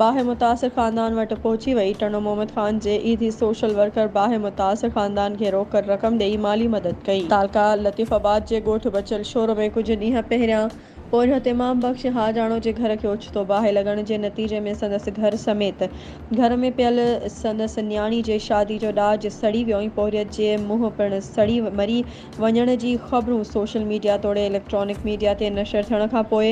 باهه متاثر خاندان وٽ پهچي وئي، ٽنڊو محمد خان جي اي ڌي سوشل ورڪر باهه متاثر خاندان کي روڪڙ رقم ڏئي مالي مدد ڪئي. تعلقه لطيف آباد جي ڳوٺ بچل شور ۾ ڪجهه ڏينهن پهريان پورهيت امام بخش حاجاڻو جي گهر کي اوچتو باهه لڳڻ جي نتيجي ۾ سندس گهر سميت گهر ۾ پيل سندس نياڻي جي شادي جو ڏاج سڙي ويو ۽ پورهيت جي منهن پڻ سڙي مري وڃڻ جي خبرون سوشل ميڊيا توڙي اليڪٽرانڪ ميڊيا تي نشر ٿيڻ کان پوء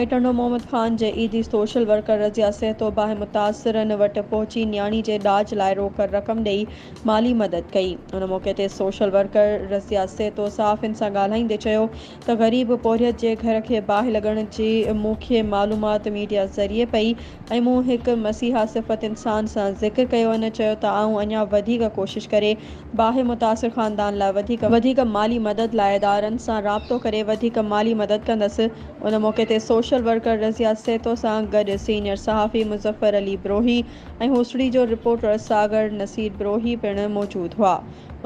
۽ ٽنڊو محمد خان جي عيدي سوشل ورڪر رضيه سهتو باهه متاثرن وٽ پهچي نياڻي جي ڏاج لاء روڪڙ رقم ڏئي مالي مدد ڪئي ان موقعي تي سوشل ورڪر رضيه سهتو صحافين سان ڳالهائيندي چيو ته غريب پورهيت جي گهر کي باهه لڳڻ جي مون کي معلومات ميڊيا ذريعي پئي ۽ مون هڪ مسيحا صفت انسان سان ذڪر ڪيو ان چيو ته آئون اڃا وڌيڪ ڪوشش ڪري باهه متاثر خاندان لاء وڌيڪ وڌيڪ مالي مدد لاء ادارن سان رابطو ڪري وڌيڪ مالي مدد ڪندس ان موقعي تي سوشل ورڪر رضيه سيتو سان گڏ سينيئر صحافي مظفر علي بروهي ۽ هوسڙي جو رپورٽر ساگر نصير بروهي پڻ موجود هئا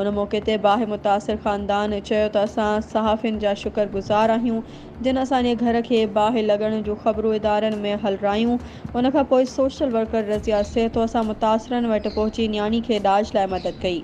ان موقعي تي باهه متاثر خاندان چيو ته اسان صحافين جا شڪر گذار آهيون جن اسان جي گهر کي باهه لڳڻ جون خبرون ادارن ۾ هلرايون ان کان پوء سوشل ورڪر رضيه سيتو سان متاثرن وٽ پهچي نياڻي کي ڏاج لاء مدد ڪئي.